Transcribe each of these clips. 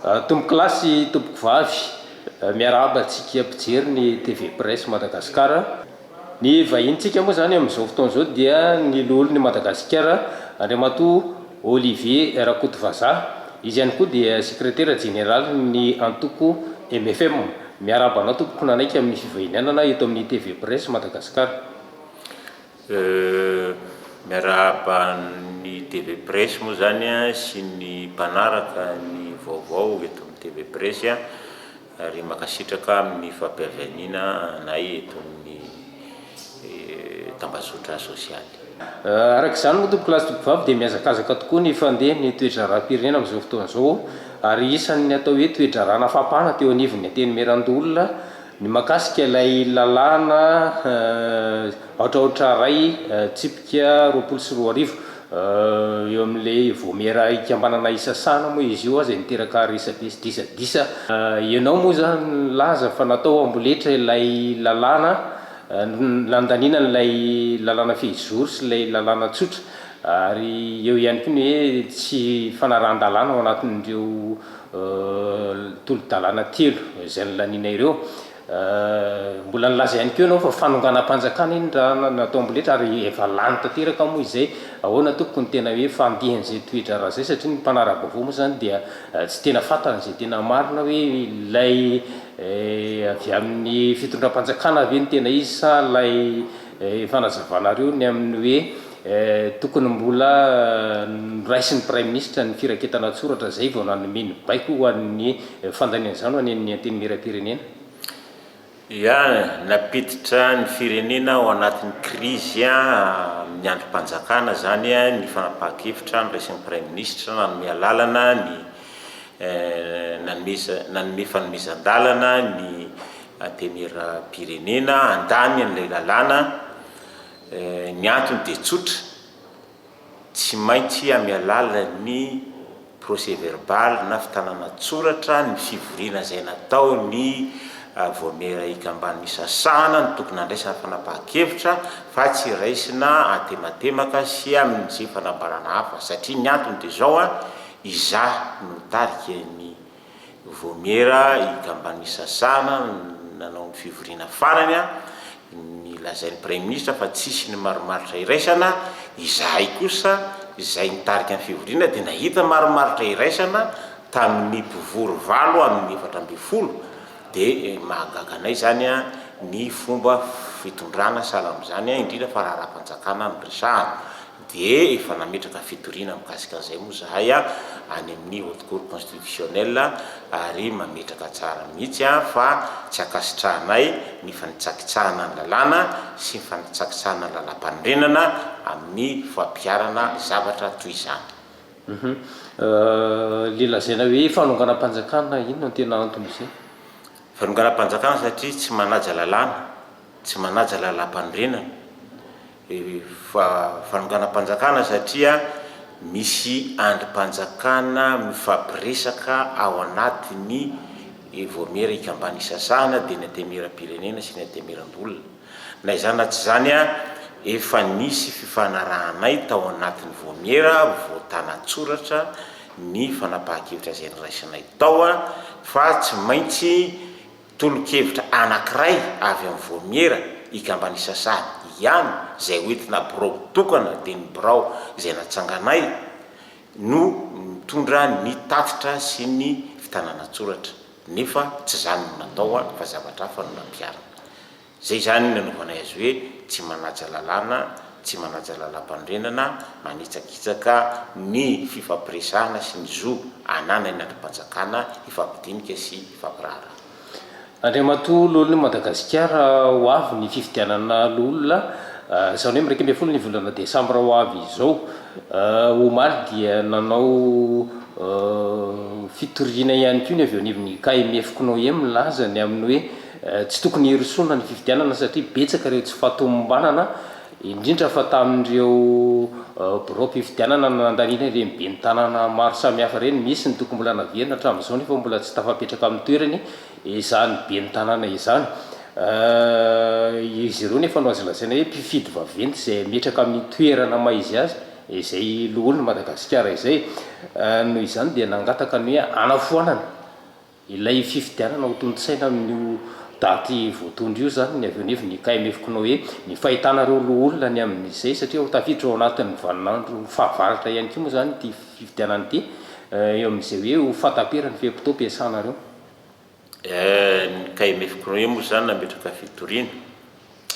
Tompokolahy sy tompokovavy, miarahaba antsika mpijery ny TV Presse Madagascar. Ny vahinintsika moa izany amin'izao fotoana izao dia ny Loholon'i Madagasikara, Andriamatoa Olivier Rakotovazaha. Izy ihany koa dia Sekretera Jeneralin'ny antoko mfm. Miarahaba anao tompoko nanaiky amin'ny fivahinianana eto amin'ny TV Presse Madagascar. Euh miarahaba ny TV Presse moa zany sy ny mpanaraka ny vaovao eto amin'ny TV Presse ary mankasitraka amin'ny fampiavianiana anay eto amin'ny tambazotra sosialy. Araka izany moa tompokolahy sy tompokovavy dia mihazakazaka tokoa ny fandeha ny toe-draharaham-pirenena amin'izao fotoana izao ary isan'ny atao hoe toe-draharaha nafapana teo anivon'ny Antenimierandoholona, Ny mahakasika ilay lalàna aotraotra iray tsipika roapolo sy roa arivo eo amin'ilay vaomiera ikambanana isasahana moa izy io aza niteraka resabe sy disadisa. Ianao moa izany nilaza fa natao amboletra ilay lalàna nandaniana an'ilay lalàna fehizoro sy ilay lalàna tsotra ary eo ihany koa ny hoe tsy fanarahan-dalàna ao anatin'ireo tolo-dalàna telo izay nolaniana ireo. Mbola nilaza ihany koa ianao fa fanonganam-panjakana iny raha natao amboletra ary efa lany tanteraka moa izay. Ahoana tompoko ny tena hoe fandihan'izay toe-draharaha izay satria ny mpanara-baovao moa izany dia tsy tena fantany izay tena marina hoe ilay avy amin'ny fitondram-panjakana ve no tena izy sa ilay Ny fanazavanareo ny amin'ny hoe tokony mbola noraisin'ny Praiminisitra ny firaketana an-tsoratra izay vao nanome ny baiko ho an'ny fandaniana izany ho any amin'ny Antenimierampirenena? Ia, nampiditra ny firenena ao anatin'ny krizy amin'ny andrim-panjakana izany ny fanapahan-kevitra noraisin'ny Praiminisitra nanome alalana ny nanome fanomezan-dalana ny Antenimierampirenena handany an'ilay lalàna. Ny antony dia tsotra, tsy maintsy amin'ny alalan'ny procès verbal na fitanana an-tsoratra ny fivoriana izay natao ny Vaomiera Ikamban'ny Misasahana no tokony handraisana fanapahan-kevitra fa tsy raisina antematemaka sy amin'izay fanambarana hafa satria ny antony dia izao an, izaho no nitarika ny Vaomiera i Gambani Sasana nanao ny fivoriana farany, ny lazain'ny Praiminisitra fa tsisy ny marimaritra iraisana, izahay kosa izay nitarika ny fivoriana dia nahita marimaritra iraisana tamin'ny mpivory valo amin'ny efatra ambin'ny folo dia mahagaga anay izany ny fomba fitondrana sahala amin'izany indrindra fa raharaha-panjakana no resahana. dia efa nametraka fitoriana mikasika an'izay moa izahay any amin'ny Haute Cour Constitutionnelle ary mametraka tsara mihitsy fa tsy ankasitrahanay ny fanitsakitsahana ny lalàna sy ny fanitsakitsahana ny lalàmpanorenana amin'ny fampiharana zavatra toy izany. Ilay lazaina hoe fanonganam-panjakana, inona no tena anton'izay? Fanonganam-panjakana satria tsy manaja lalàna, tsy manaja lalàmpanorenana. fanonganam-panjakana satria misy andrim-panjakana mifampiresaka ao anatin'ny Vaomiera Ikamban'ny Sasana dia ny Antenimieram-pirenena sy ny Antenimierambola. Na izany na tsy izany efa nisy fifanarahanay tao anatin'ny Vaomiera voatàna an-tsoratra ny fanapahan-kevitra izay niraisinay tao fa tsy maintsy Tolo-kevitra anankiray avy amin'ny vaomiera ikamban'ny sasany ihany izay ho entina birao tokana dia ny birao izay natsanganay no mitondra ny tatitra sy ny fitànana an-tsoratra nefa tsy izany no natao fa zavatra hafa no nampiharina. Izay izany no nanaovanay azy hoe tsy manaja lalàna, tsy manaja lalàmpanorenana, manitsakitsaka ny fifampiresahana sy ny zo ananan'ny andrimpanjakana hifampidinika sy hifampiraharaha. Andriamatoa Loholon'i Madagasikara ho avy ny fifidianana Loholona, izany hoe miraika ambin'ny folo ny volana desambra ho avy izao, omaly dia nanao fitoriana ihany koa ny avy eo anivon'ny KMF-Cnoem milaza ny amin'ny hoe Tsy tokony hirosoana ny fifidianana satria betsaka ireo tsy fahatomombanana, indrindra fa tamin'ireo biraom-pifidianana nandaniana ireny ben'ny tanàna maro samihafa ireny. Misy ny tokony mbola naverina hatramin'izao nefa mbola tsy tafapetraka amin'ny toerany izany ben'ny tanàna izany. Izy ireo nefa no azo lazaina hoe mpifidy vaventy izay hametraka amin'ny toerana maha izy azy izay loholon'i Madagasikara izay. Noho izany dia nangataka ny hoe hanafoanana. Ilay fifidianana ho tontosaina amin'io daty voatondro io izany ny avy eo anivon'ny IKMF koa hoe ny fahitana ireo loholona ny amin'izay satria ho tafiditra ao anatin'ny vaninandro fahavaratra ihany koa moa izany ity fifidianana ity eo amin'izay hoe ho fahataperan'ny fe-potoam-piasana ireo Ny IKMF koa hoe moa izany nametraka fitoriana,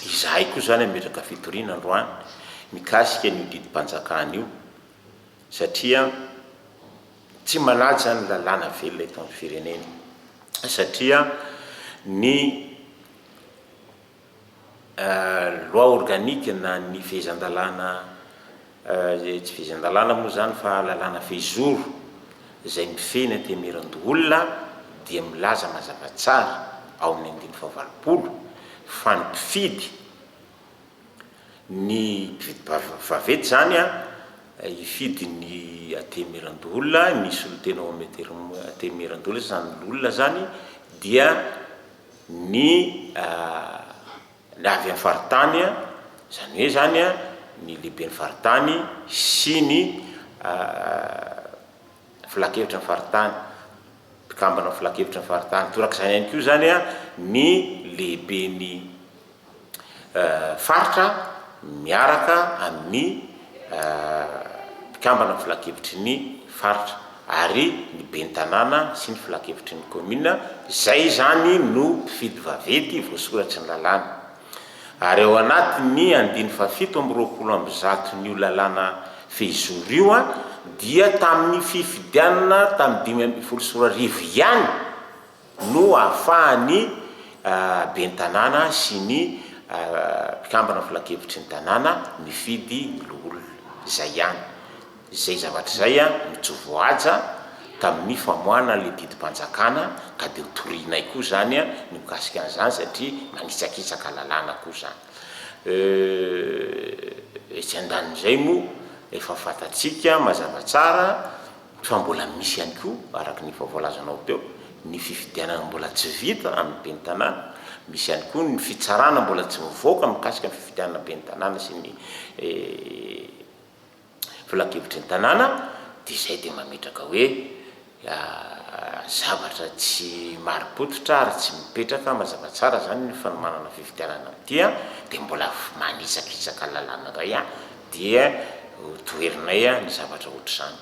izahay koa izany hametraka fitoriana androany mikasika an'io didim-panjakana io satria Tsy manaja ny lalàna velona eto amin'ny firenena satria ny loi organique na ny fehezan-dalàna, tsy fehezan-dalàna moa izany fa lalàna fehizoro izay mifehy ny antemirando-olona dia milaza mazava tsara ao amin'ny andininy fahavalopolo fa ny mpifidy, Ny mpividim-bava vavety izany an, hifidy ny Antenimierandoholona, ny solotena ao amin'ny Antenimierandoholona sy izany loholona izany dia ny avy amin'ny faritany an, izany hoe izany an, ny lehiben'ny faritany sy ny filankevitry ny faritany, mpikambana amin'ny filankevitry ny faritany. Torak'izany ihany koa izany ny lehiben'ny faritra miaraka amin'ny mpikambana amin'ny filankevitry ny faritra ary ny ben'ny tanàna sy ny filankevitry ny kaominina, izay izany no mpifidy vaventy voasoratry ny lalàna. Ary ao anatin'ny andininy fahafito amby roapolo amby zaton'io lalàna fehizoro io dia tamin'ny fifidianana tamin'ny dimy ambin'ny folo sy roa arivo ihany no ahafahan'ny ben'ny tanàna sy ny mpikambana filankevitry ny tanàna mifidy ny loholona. Izay ihany. Izay zavatra izay no tsy voahaja tamin'ny famoahana ilay didim-panjakana ka dia ho torianay koa izany ny mikasika an'izany satria manitsakitsaka lalàna koa izany. Euh, etsy andanin'izay moa efa fantatsika mazava tsara fa mbola misy ihany koa araka ny efa voalazanao teo ny fifidianana mbola tsy vita amin'ny ben'ny tanàna, misy ihany koa ny fitsarana mbola tsy mivoaka mikasika ny fifidianana ben'ny tanàna sy ny eh, filankevitry ny tanàna dia izay dia mametraka hoe zavatra tsy mari-pototra ary tsy mipetraka mazava tsara izany ny fanomanana fifidianana amin'ity an, dia mbola manitsakitsaka lalàna indray an, dia ho toherinay ny zavatra ohatr'izany.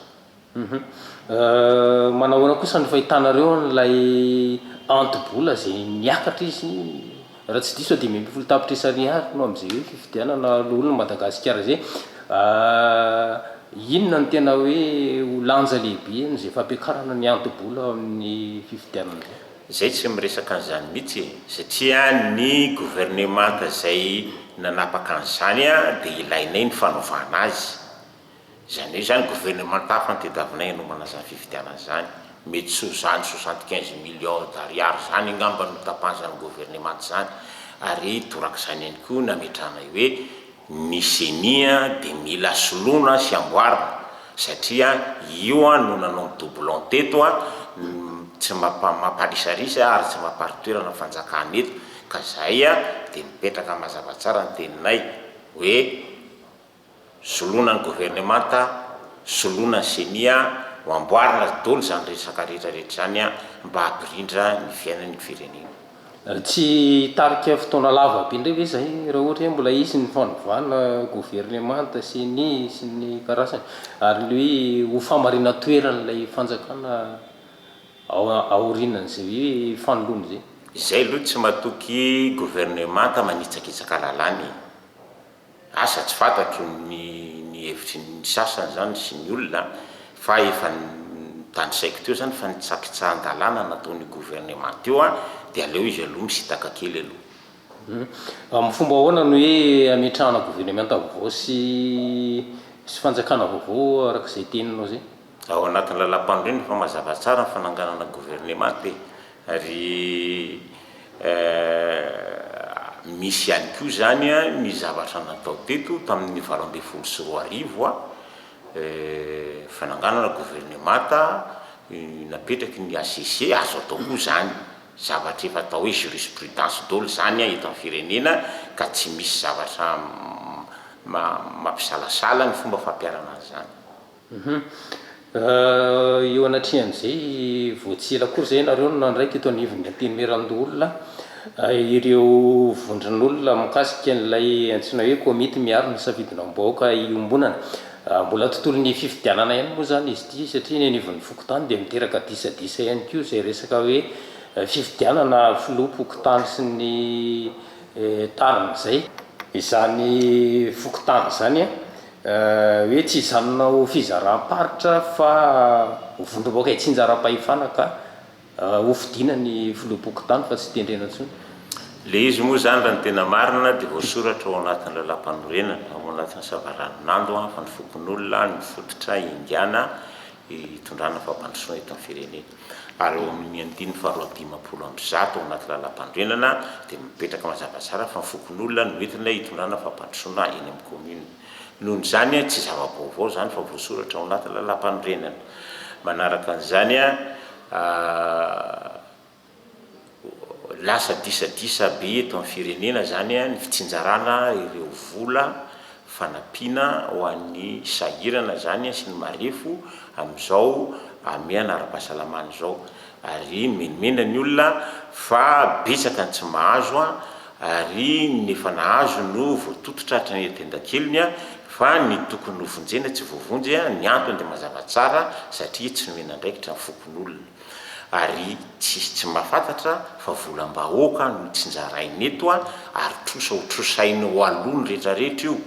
Manahoana kosa ny fahitanareo an'ilay anto-bola izay miakatra izy, raha tsy diso aho dimy ambin'ny folo tapitrisa ariary no amin'izay hoe fifidianana loholona an'i Madagasikara izay. Inona no tena hoe ho lanja lehibe amin'izay fampiakarana ny anto-bola ao amin'ny fifidianana izay? Izay tsy miresaka an'izany mihitsy e! Satria ny governemanta izay nanapaka an'izany dia ilainay ny fanovana azy. Izany hoe izany gouvernemanta hafa nitadiavina hanomana izany fifidianana izany, mety tsy ho izany soixante quinze millions d'ariary izany angamba no tapahan'izany gouvernemanta izany ary torak'izany ihany koa nametrahanay hoe ny ceni dia mila soloina sy amboarina satria io no nanao ny doublon teto tsy mampalisarisa ary tsy mamparitoerana ny fanjakana eto ka izay dia mipetraka mazava tsara ny teninay hoe soloina ny governemanta, soloina ny ceni an, ho amboarina dolo izany resaka rehetra rehetra izany an, mba hampirindra ny fiainan ny firenena. Tsy hitarika fotoana lava be indray ve izay raha ohatra hoe mbola hisy ny fanovana governemanta, ceni sy ny karazany ary ny hoe ho famarinan-toeran' ilay fanjakana ao aorianan' izay hoe fanoloana izay? Izay aloha tsy matoky governemanta manitsakitsaka lalàna e! Asa tsy fantatro ny ny hevitry ny sasany zany sy ny olona fa efa notanisaiko teo zany fa ny tsakitsahan-dalàna nataon'io gouvernement io an dia aleo izy aloha misitaka kely aloha. Amin'ny fomba ahoana no hoe ametrahana gouvernementa vaovao sy sy fanjakana vaovao araka izay teninao izay? Ao anatin'ny Lalampanorenana efa mazava tsara ny fananganana governemanta e! ary misy ihany koa izany ny zavatra natao teto tamin'ny valo ambin'ny folo sy roa arivo, fananganana governemanta napetraky ny HCC, azo atao koa izany, zavatra efa atao hoe jurisprudence daholo izany eto amin'ny firenena ka tsy misy zavatra mampisalasala ny fomba fampiharana an'izany. Eo anatrehan'izay, vao tsy ela koa izay ianareo no nandraika eto anivon'ny Antenimierandoholona ireo vondron'olona mikasika an'ilay antsoina hoe Komity miaro ny safidinam-bahoaka iombonana. Mbola tontolon'ny fifidianana ihany moa izany izy ity satria ny anivon'ny fokontany dia miteraka disadisa ihany koa izay resaka hoe fifidianana filoham-pokontany sy ny tariny izay izany fokontany izany. hoe tsy hijanona ho fizaram-paritra fa ho vondrom-bahoaka itsinjaram-pahefana ka ho fidiana ny filoham-pokontany fa tsy tendrena intsony. Ilay izy moa izany raha ny tena marina dia voasoratra ao anatin'ny Lalàmpanorenana, ao anatin'ny Savaranonando fa ny fokonolona no fototra ihindiana hitondrana fampandrosoana eto amin'ny firenena. ary ao amin' ny andininy faharoa amby dimampolo amby zato ao anaty Lalàmpanorenana dia mipetraka mazava tsara fa ny fokon' olona no entina hitondrana fampandrosoana eny amin' ny kaominina. Noho izany, tsy zava-baovao izany fa voasoratra ao anaty Lalàmpanorenana. Manaraka an' izany. Lasa disadisa be eto amin'ny firenena izany ny fitsinjarana ireo vola fanampiana ho an'ny sahirana izany sy ny marefo amin'izao hamehana ara-pahasalamana izao ary nomenomenana ny olona fa betsaka ny tsy mahazo ary ny efa nahazo no voatototra hatrany an-tendakeliny fa ny tokony ho vonjena tsy voavonjy, ny antony dia mazava tsara satria tsy nomena andraikitra ny fokonolona. ary tsisy tsy mahafantatra fa volam-bahoaka no tsinjaraina eto ary trosa ho trosaina eo aloha ny rehetra rehetra io,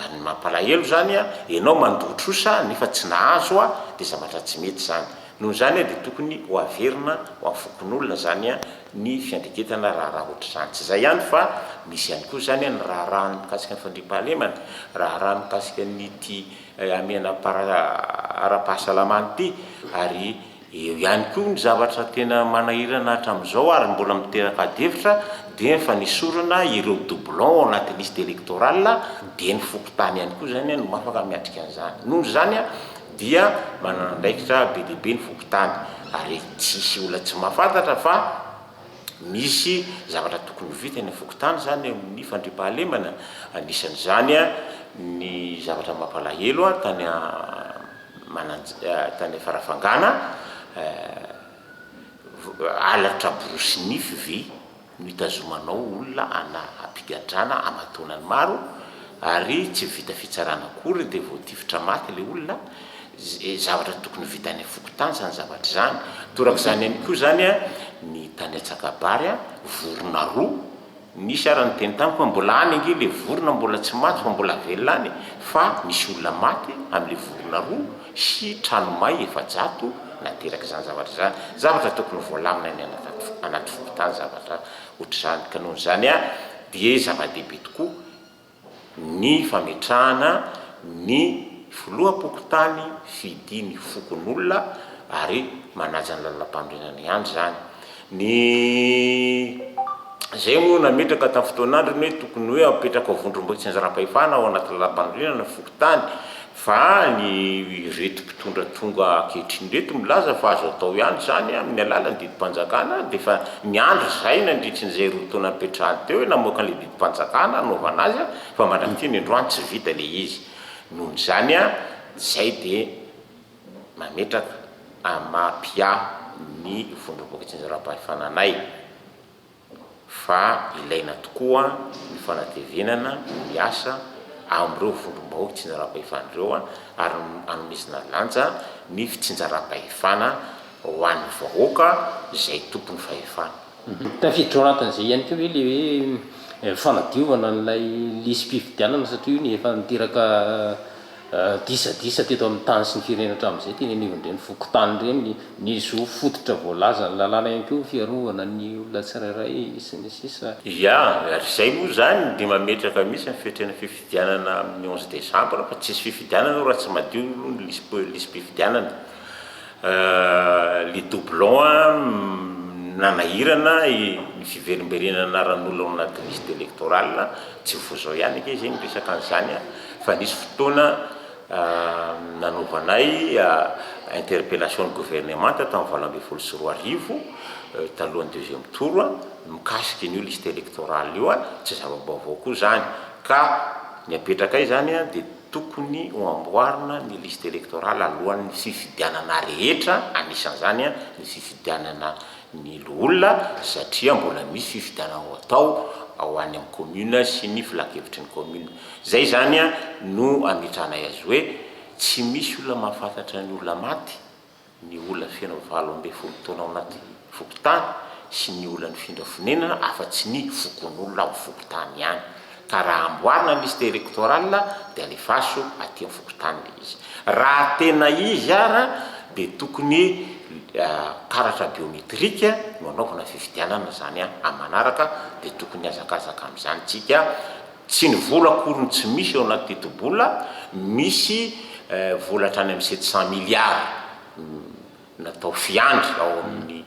ary ny mampalahelo zany enao mandoa trosa nefa tsy nahazo dia zavatra tsy mety zany, noho izany dia tokony ho averina ho an'ny fokonolona zany ny fiandregetana raharaha ohatr'izany, tsy izay ihany fa misy ihany koa zany ny raharaha ny mikasika ny fandriampahalemana, raharaha mikasika ny ity hamehana ara-pahasalamana ity ary. Eo ihany koa ny zavatra tena manahirana hatramin'izao ary mbola miteraka adihevitra dia ny fanesorana ireo doublons ao anaty liste électorale dia ny fokontany ihany koa izany no afaka miatrika an'izany. Noho izany dia manana andraikitra be dia be ny fokontany ary tsy hisy olona tsy mahafantatra fa misy zavatra tokony ho vita eny amin'ny fokontany izany eo amin'ny fandriampahalemana. Anisan'izany ny zavatra mampalahelo tany Mananjatany Farafangana, halatra borosy nify ve no itazomanao olona ana ampigadrana amataonany maro ary tsy vita fitsarana akory dia voatifitra maty ilay olona, zavatra tokony vita any fokontany izany zavatra izany, torak'izany ihany koa izany ny tany Antsakabary vorona roa. Nisy ary niteny tamiko hoe mbola any ange ilay vorona mbola tsy maty fa mbola velona any fa misy olona maty amin'ilay vorona roa sy trano may efajato nateraka izany zavatra izany. Zavatra tokony voalamina any anaty fokontany zavatra ohatr'izany ka noho izany dia zava-dehibe tokoa ny fametrahana ny filoham-pokontany fidia ny fokonolona ary manaja ny lalampanorenana ihany izany. Ny izay moa nametraka tamin'ny fotoan'androny hoe tokony hoe apetraka vondrom-boatsinjaram-pahefana ao anaty lalampanorenana ny fokontany. Fa ny ireto mpitondra tonga ankehitriny ireto milaza fa azo atao ihany izany amin'ny alalan'ny didim-panjakana dia efa niandry izay nandritry izay roa taona nipetrahany teo hoe namoaka an'ilay didim-panjakana hanaovana azy fa mandrak'ity ny androany tsy vita ilay izy. Noho izany izay dia mametraka amin'ny maha-mpiahy ny vondrom-boka tsinjaram-pahefana anay. fa ilaina tokoa ny fanatevenana ny asa amin'ireo vondrom-bahoaka itsinjaram-pahefana ireo ary anomezana lanja ny fitsinjaram-pahefana ho an'ny vahoaka izay tompon'ny fahefana. Tafiditra ao anatin'izay ihany koa ve ilay hoe fanadiovana an'ilay lisi-pifidianana satria io no efa niteraka Disadisa teto amin'ny tany sy ny firenena hatramin'izay, teny anivon'ireny fokontany ireny, ny ny zo fototra voalazan'ny lalàna ihany koa ny fiarovana ny olona tsirairay sy ny sisa. Ia, ary izay moa izany dia mametraka mihitsy ny fetrena fifidianana amin'ny onze décembre fa tsy hisy fifidianana io raha tsy madio aloha ny lisi-pifidianana. Euh les doublons a, nanahirana ny fiverimberenana anaran'olona ao anaty liste electorale a, tsy vao zao ihany ange zay miresaka an'izany a, fa nisy fotoana nanaovanay interpellation ny gouvernemanta tamin'ny valo ambin'ny folo sy roa arivo talohan'ny deuxième tour a, mikasika an'io liste electorale io a, tsy zava-baovao koa zany ka ny apetrakay zany a dia. Tokony ho amboarina ny liste electorale alohan'ny fifidianana rehetra, anisan'izany ny fifidianana ny loholona satria mbola misy fifidianana ho atao ao any amin'ny commune sy ny filankevitry ny commune. Izay izany no ametrahanay azy hoe tsy misy olona mahafantatra ny olona maty. ny olona feno valo ambin'ny folo taona ao anaty fokontany sy ny olona nifindra fonenana afa-tsy ny fokonolona ao fokontany ihany ka raha amboarina ny liste electorale dia alefaso aty amin'ny fokontany ilay izy. Raha tena izy ara dia tokony karatra biometrique no anaovana fifidianana izany amin'ny manaraka dia tokony hihazakazaka amin'izany tsika. Tsy ny vola akory no tsy misy ao anaty tetibola, misy vola hatrany amin'ny sept cent milliards natao fiandry ao amin'ny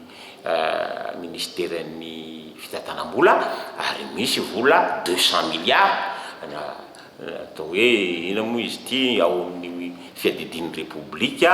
minisiteran'ny fitantanam-bola ary misy vola deux cent milliards atao hoe inona moa izy ity ao amin'ny fiadidian'ny repoblika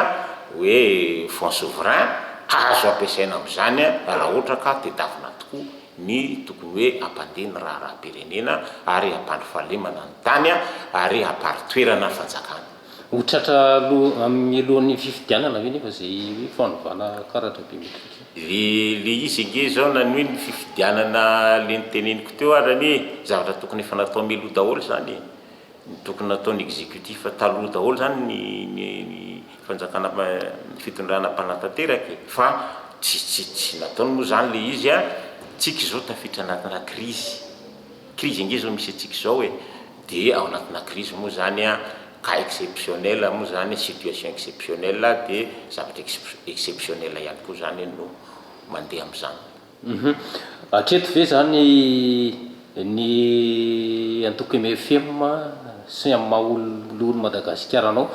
hoe fonds souverain, azo ampiasaina amin'izany raha ohatra ka tedavina tokoa ny tokony hoe hampandeha ny raharaham-pirenena ary hampandry fahalemana ny tany ary hampari-toerana fanjakana. Ho tratra mialohan'ny fifidianana ve nefa izay hoe fanovana karatra biometrika? Le le izy ange izao na ny hoe ny fifidianana le noteneniko teo ary anie zavatra tokony efa natao mialoha daholo izany e! Ny tokony nataony executif taloha daholo zany ny ny ny fanjakana ny fitondrana mpanatanteraka e! Fa tsy tsy tsy nataony moa zany le izy a! Tsika izao tafiditra anatina krizy, krizy ange zao misy antsika izao e! De ao anatina krizy moa zany a cas exceptionnel moa zany situation exceptionnel de zavatra exp exceptionnel ihany koa zany no mandeha am'zany. Hatreto ve izany ny antoko mfm sy ny amin'ny maha olon'i Madagasikara anao?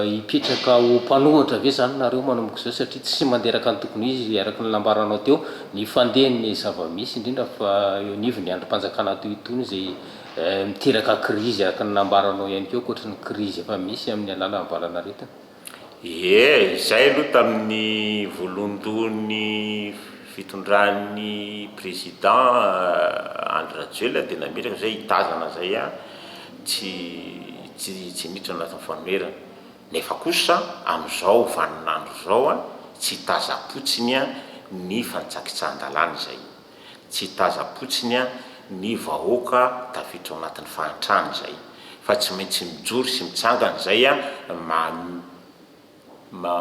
Hipetraka ho mpanohatra ve izany nareo manomboka izao satria tsy mandeha araka ny tokony ho izy araka ny nambaranao teo ny fandehan'ny zava-misy indrindra fa eo anivon'ny andrim-panjakana toy itony izay miteraka krizy araka ny nambaranao ihany koa ankoatry ny krizy efa misy amin'ny alalan'ny valanaretina? Ie, izay aloha tamin'ny voalohandohan'ny fitondran'ny Président Andry Rajoelina dia nametraka izay hitazana izay ihany, tsy tsy tsy miditra anatin'ny fanoherana. Nefa kosa amin'izao vanin'andro izao tsy tazam-potsiny ny fanitsakitsahan-dalàna izay. Tsy taza-potsiny an ny vahoaka tafiditra ao anatin'ny fahantrana izay. Fa tsy maintsy mijoro sy mitsangana izay an ma ma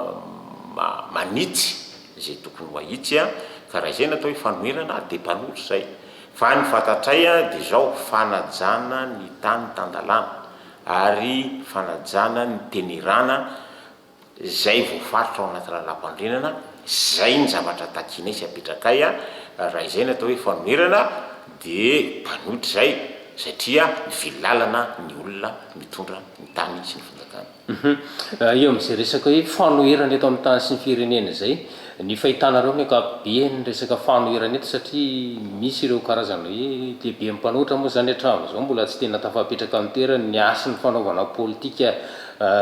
ma manitsy izay tokony ho ahitsy an. Ka raha izay no atao hoe fanoherana an dia mpanoro izay. Fa ny fantatray an dia izao, fanajana ny tany tan-dalàna ary fanajana ny tenerana. izay voafaritra ao anaty lalàmpanorenana, izay ny zavatra takianay sy apetrakay, raha izay no atao hoe fanoherana dia mpanohitra izay satria mivily lalana ny olona mitondra ny tany sy ny fanjakana. Hum, eo amin'izay resaka hoe fanoherana eto amin'ny tany sy ny firenena izay, ny fahitanareo amin'ny ankapobeany resaka fanoherana eto satria misy ireo karazana hoe lehiben'ny mpanohitra moa izany hatramin'izao mbola tsy tena tafapetraka amin'ny toerany ny hasin'ny fanaovana politika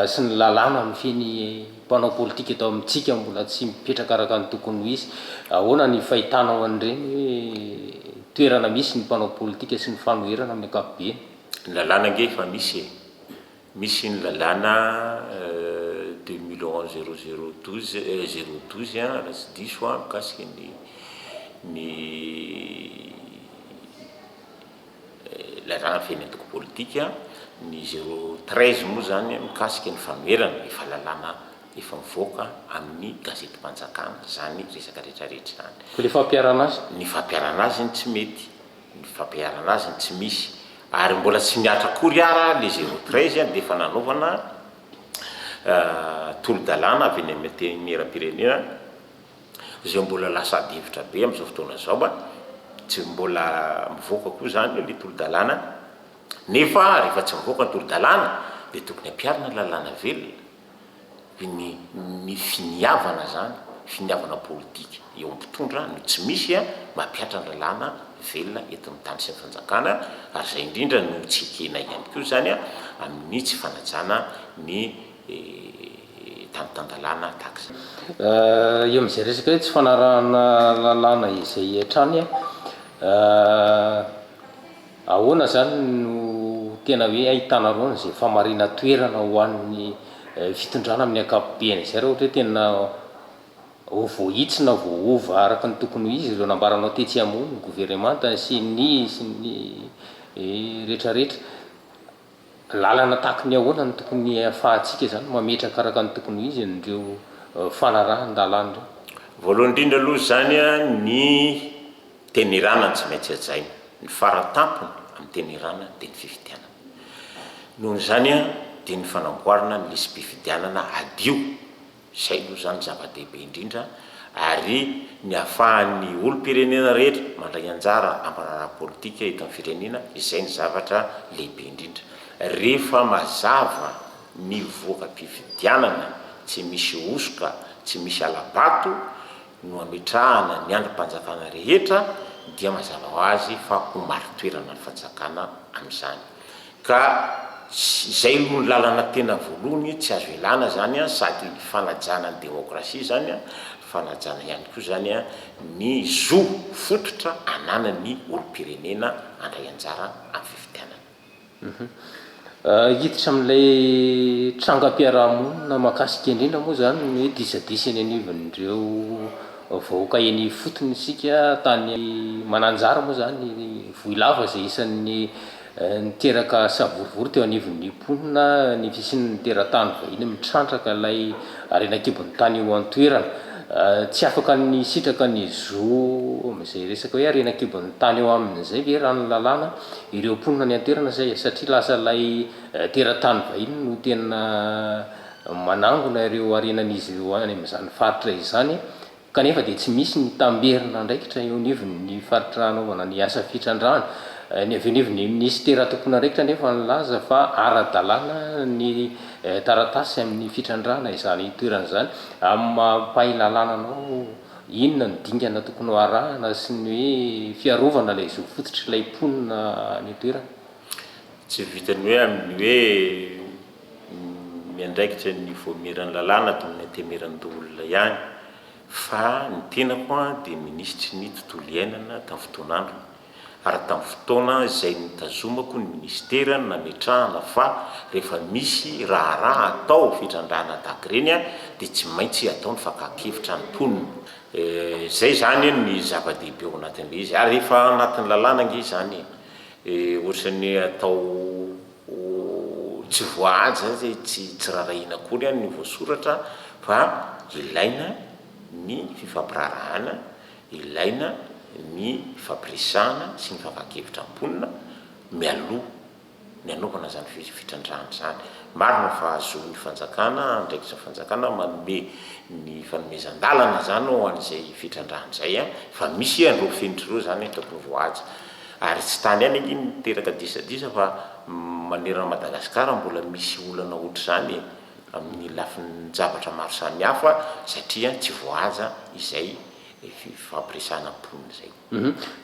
sy ny lalàna mifehy ny mpanao politika eto amintsika mbola tsy mipetraka araka ny tokony ho izy. Ahoana ny fahitanao an'ireny toerana misy ny mpanao politika sy ny fanoherana amin'ny ankapobeny? Ny lalàna ange efa misy e! Misy ny lalàna deux mille onze zéro zéro douze zéro douze an, raha tsy diso aho, mikasika ny ny. Ilazana feno antoko politika ny zero treize moa izany mikasika ny fanoherana ny fahalalana efa mivoaka amin'ny gazetim-panjakana izany resaka rehetrarehetra izany. Koa ny fampiharana azy? Ny fampiharana azy no tsy mety, ny fampiharana azy no tsy misy. Ary mbola tsy mihatra akory ara ilay zero treize dia efa nanaovana tolo-dalàna avy eny amin'ny Antenimierampirenena, izay mbola lasa adihevitra be amin'izao fotoana izao a, tsy mbola mivoaka koa izany ilay tolo-dalàna nefa rehefa tsy mivoaka ny tolo-dalàna dia tokony hampiharina ny lalàna velona, dia ny ny finiavana izany, finiavana politika eo amin'ny mpitondra no tsy misy a, mampihatra ny lalàna velona eto amin'ny tany sy ny fanjakana ary izay indrindra no tsy ekena ihany koa izany a, amin'ny tsy fanajana ny. tamin'ny tan-dalàna, tax. Eo amin'izay resaka hoe tsy fanarahana lalàna izay hatrany, ahoana izany no tena hoe ahitanareo an'izay famarinan-toerana ho an'ny fitondrana amin'ny ankapobeny izay raha ohatra hoe tena ho voahitsy na voahova araka ny tokony ho izy ireo nambaranao tetsy amoa ny governemanta sy ny sy ny rehetrarehetra? Lalana tahaka ny ahoana no tokony hahafahantsika izany mametraka araka ny tokony ho izy an'ireo fanarahan-dalàna ireo? Voalohany indrindra aloha izany, ny teny iranany tsy maintsy hajaina. Ny fara tampony amin'ny teny iranany dia ny fifidianana. Noho izany dia ny fanamboarana ny lisi-pifidianana hadio Izay aloha izany no zava-dehibe indrindra ary ny ahafahan'ny olom-pirenena rehetra mandray anjara amin'ny raharaha politika eto amin'ny firenena, izay ny zavatra lehibe indrindra. Rehefa mazava ny voka-pifidianana, tsy misy hosoka, tsy misy hala-bato, no ametrahana ny andrim-panjakana rehetra dia mazava ho azy fa ho marin-toerana ny fanjakana amin'izany ka izay aloha ny lalana tena voalohany tsy azo ialana izany sady fanajana ny demokrasia izany fanajana ihany koa izany ny zo fototra ananan'ny olom-pirenena handray anjara amin'ny fifidianana. Hiditra amin'ilay trangam-piarahamonina mahakasika indrindra moa izany ny hoe disadisa eny anivon'ireo vahoaka eny ifotony isika, tany Mananjary moa izany i Vohilava izay isan'ny niteraka savorovoro teo anivon'ny mponina ny fisian'ny teratany vahiny mitrandraka ilay harena an-kibon'ny tany eo an-toerana. Tsy afaka ny hisitraka ny zo amin'izay resaka hoe harena an-kibon'ny tany eo aminy izay ve raha ny lalàna? Ireo mponina nianteherana izay satria lasa ilay teratany vahiny no tena manangona ireo harenan'izy ireo any amin'izany faritra izany kanefa dia tsy misy ny tamberin'andraikitra eo anivon'ny faritra hanaovana ny asa fitrandrahana. Ny avy eo anivon'ny minisitera tompon'andraikitra anefa nilaza fa ara-dalàna ny taratasy amin'ny fitrandrahana izany toerana izany amin'ny maha mpahay lalàna anao Inona no dingana tokony ho arahana sy ny hoe fiarovana ilay zo fototry ilay mponina any an-toerana? Tsy vitan'ny hoe amin'ny hoe miandraikitra ny voamiran'ny lalàna ato amin'ny Antemiranolona ihany fa ny tenako dia minisitry ny tontolo iainana tamin'ny fotoan'androny ary tamin'ny fotoana izay nitazomako ny minisitera no nametrahana fa rehefa misy raharaha atao fitrandrahana daty ireny dia tsy maintsy atao ny fakan-kevitra ny mponina. Izay izany anie ny zava-dehibe ao anatin'ilay izy ary efa anatin'ny lalàna ange izany e! Ohatran'ny atao ho tsy voahaja izay tsy tsy rarahiana akory ny voasoratra fa ilaina ny fifampiraharahana. Ilaina ny fampiresahana sy ny fakan-kevitra am-ponina mialoha ny anaovana izany fitrandrahana izany. Marina fa zon'ny fanjakana, andraikitry ny fanjakana manome ny fanomezan-dalana izany ho an'izay fitrandrahana izay fa misy an'ireo fenitra ireo izany tokony voahaja. Ary tsy tany ihany ange no miteraka disadisa fa manerana an'i Madagasikara mbola misy olana ohatr'izany e! amin'ny lafin-javatra maro samihafa satria tsy voahaja izay fifampiresahana mponina izay.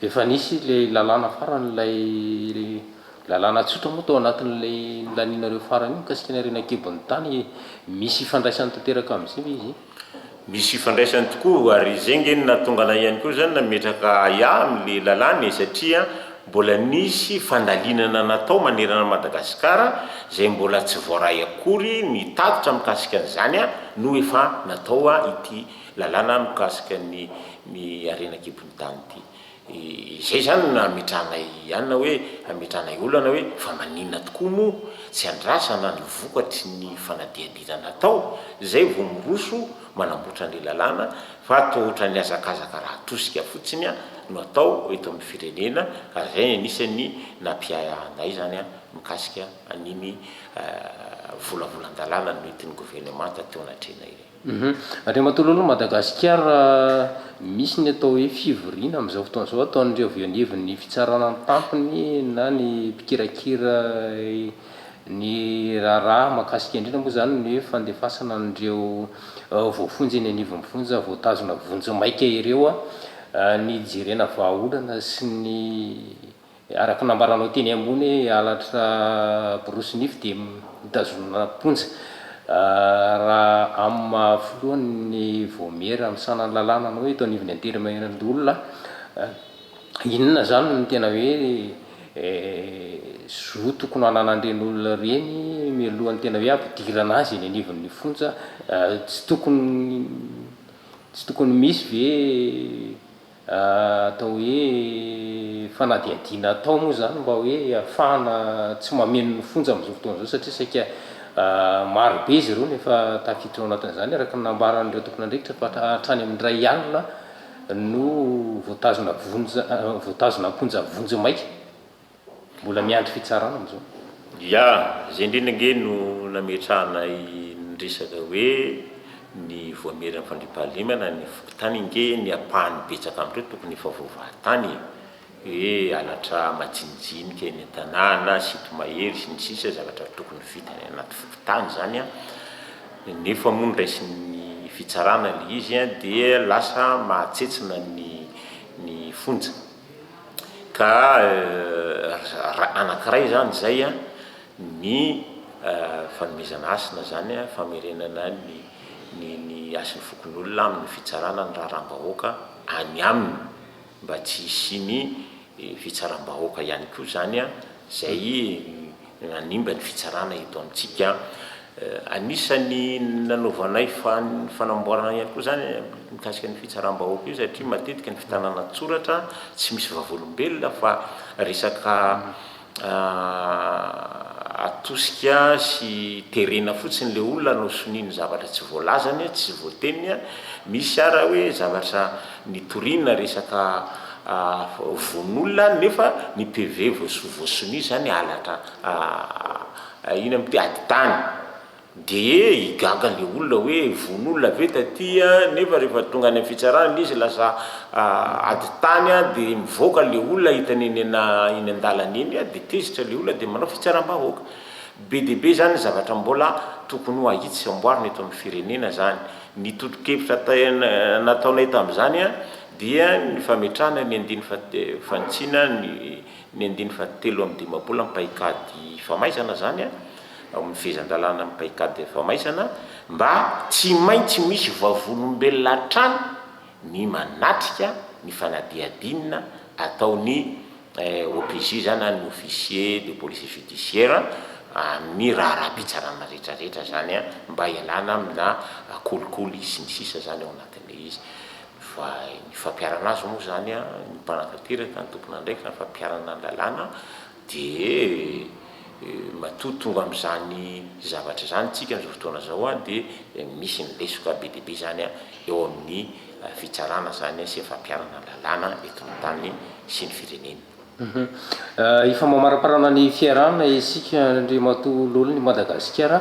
Efa nisy ilay lalàna farany, ilay lalàna tsotra moa tao anatin'ilay nilanianareo farany iny mikasika ny harena an-kibon'ny tany, misy ifandraisany tanteraka amin'izay ve izy? Misy ifandraisany tokoa ary zay nge no nahatonga anah ihany koa zany nametraka ahiahy amle lalàna e, satria mbola nisy fandalinana natao manerana an'i Madagasikara zay mbola tsy voaray akory ny tatitra mikasika an'izany no efa natao ity lalàna mikasika ny ny harena an-kibon'ny tany ity. Izay izany no hametrahanay anona hoe, hametrahanay olana hoe fa maninona tokoa moa tsy andrasana ny vokatry ny fanadihadiana natao izay vao miroso manamboatra ny lalàna fa toa ohatran'ny hazakazaka raha tosika fotsiny no atao eto amin'ny firenena ary izay anisan'ny nampiahiahinay izany mikasika an'iny volavolan-dalàna nentin'ny governemanta teo anatrehanay iny. Andriamatoa Lolo, Madagasikara misy ny atao hoe fivoriana amin'izao fotoana izao ataon'ireo avy eo anivon'ny fitsarana ny tampony na ny mpikirakira ny raharaha mahakasika indrindra moa izany ny hoe fandefasana an'ireo voafonja eny anivon'ny fonja voatazona vonjimaika ireo, ny hijerena vahaolana sy ny. Araka ny nambaranao teny ambony hoe halatra borosy nify dia mitazonana am-ponja. Raha amin'ny maha filohan'ny Vaomiera misahana ny lalàna anao eto anivon'ny antenimierandoholona, inona izany no tena hoe zo tokony hananan'ireny olona ireny mialohan'ny tena hoe hampidirana azy eny anivon'ny fonja? Tsy tokony tsy tokony misy ve? Atao hoe fanadihadiana atao moa izany mba hoe hahafahana tsy mameno ny fonja amin'izao fotoana izao satria saika maro be izy ireo no efa tafiditra ao anatin'izany araka ny nambaran'ireo tompon'andraikitra fa hatrany amin'ny iray alina no voatazona vonjy voatazona am-ponja vonjy maika Mbola miandry fitsarana amzao. Ya, izay indrindra ange no nametrahanay ny resaka hoe ny voamierin'ny fandriampahalemana ny fokontany ange ny ampahany betsaka amin'ireo tokony efa voavaha tany e! hoe halatra majinijinika eny an-tanàna, sito mahery sy ny sisa zavatra tokony vita any anaty fokontany izany an! nefa moa ny raisin'ny fitsarana ilay izy dia lasa mahatsetsina ny ny fonja. ka anakiray izany izay ny fanomezana hasina izany famerenana ny hasin'ny fokonolona amin'ny fitsarana ny raharaham-bahoaka any aminy mba tsy hisian'ny fitsaram-bahoaka ihany koa izany izay nanimba ny fitsarana eto amintsika. Anisan'ny nanaovanay fanamboarana ihany koa izany mikasika ny fitsaram-bahoaka io satria matetika ny fitanana an-tsoratra tsy misy vavolombelona fa resaka atosika sy terena fotsiny ilay olona no sonia ny zavatra tsy voalazany, tsy voateniny. Misy ary hoe zavatra Nitoriana resaka vono-olona nefa ny PV voasoa voasonia izany halatra ina moa ty ady tany dia higaga ilay olona hoe vono olona ve taty nefa rehefa tonga any amin'ny fitsarana ilay izy lasa ady tany dia mivoaka ilay olona hitany eny an-dalana eny dia tezitra ilay olona dia manao fitsaram-bahoaka. Be dia be izany ny zavatra mbola tokony ho ahitsy sy amboarina eto amin'ny firenena izany. Ny totokevitra nataonay tamin'izany dia ny fametrahana ny andininy fahatelo, fanitsiana ny andininy fahatelo amby dimampolo amin'ny paikady famaizana izany an, ao amin'ny fehezan-dalàna amin'ny paikady famaizana, mba tsy maintsy misy vavolombelona hatrany, ny manatrika ny fanadihadiana ataon'ny OPJ izany an, ny Officier de Police Judiciaire, amin'ny raharaham-pitsarana rehetrarehetra izany an, mba hialana amina kolikoly sy ny sisa izany ao anatin'ilay izy. Fa ny fampiharana azy moa izany an, ny mpanatanteraka, ny tompon'andraikitra, ny fampiharana ny lalàna, Dia matoa tonga amin'izany zavatra izany isika amin'izao fotoana izao dia misy ny lesoka be dia be izany eo amin'ny fitsarana izany sy ny fampiharana ny lalàna eto amin'ny tany sy ny firenena. Efa mamaramparana ny fiarahana isika Andriamatoa Lolo ny Madagasikara.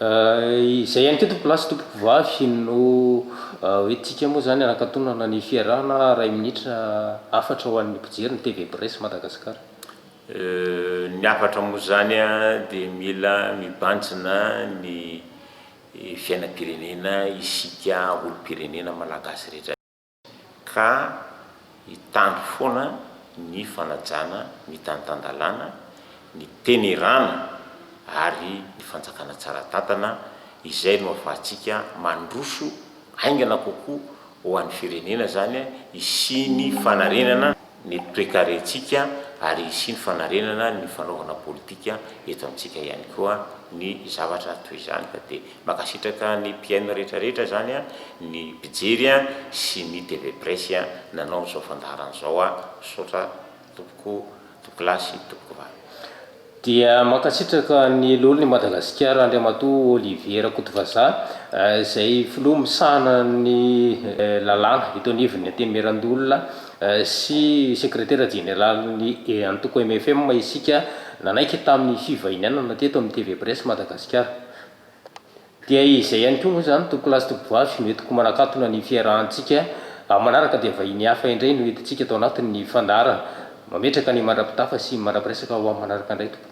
Izay ihany koa tompolahy sy tompokovavy no hoe tika moa izany hanakatonana ny fiarahana iray minitra hafatra ho an'ny mpijery ny TV Presse Madagascar. Ny hafatra moa izany dia mila mibanjina ny fiainam-pirenena isika olom-pirenena malagasy rehetra. ka hitandro foana ny fanajana ny tany tan-dalàna, ny tenerana ary ny fanjakana tsara tantana izay no ahafahantsika mandroso haingana kokoa ho an'ny firenena izany hisian'ny fanarenana ny toe-karentsika ary hisiany fanarenana ny fanaovana politika eto amintsika ihany koa ny zavatra toy izany ka dia mankasitraka ny mpihaino rehetra rehetra izany ny mpijery sy ny TV Presse nanao izao fandaharana izao misaotra tompoko Tompokolahy sy Tompokovavy. Dia mankasitraka ny Lolon' i Madagasikara Andriamatoa Olivier Rakotovazaha izay Filoha misahana ny lalàna eto anivon' ny Antenimierandolona sy Sekretera Jeneraly ny Antoko mfm isika nanaiky tamin'ny fivahinianana teto amin'ny TV Presse Madagasikara. Dia izay ihany koa moa izany Toko Last Voyage no entiko manakatona ny fiarahantsika, amin'ny manaraka dia vahiny hafa indray no entintsika ato anatin'ny fandaharana. Mametraka ny mandra-pitafa sy mandra-piresaka ho amin'ny manaraka indray tompoko.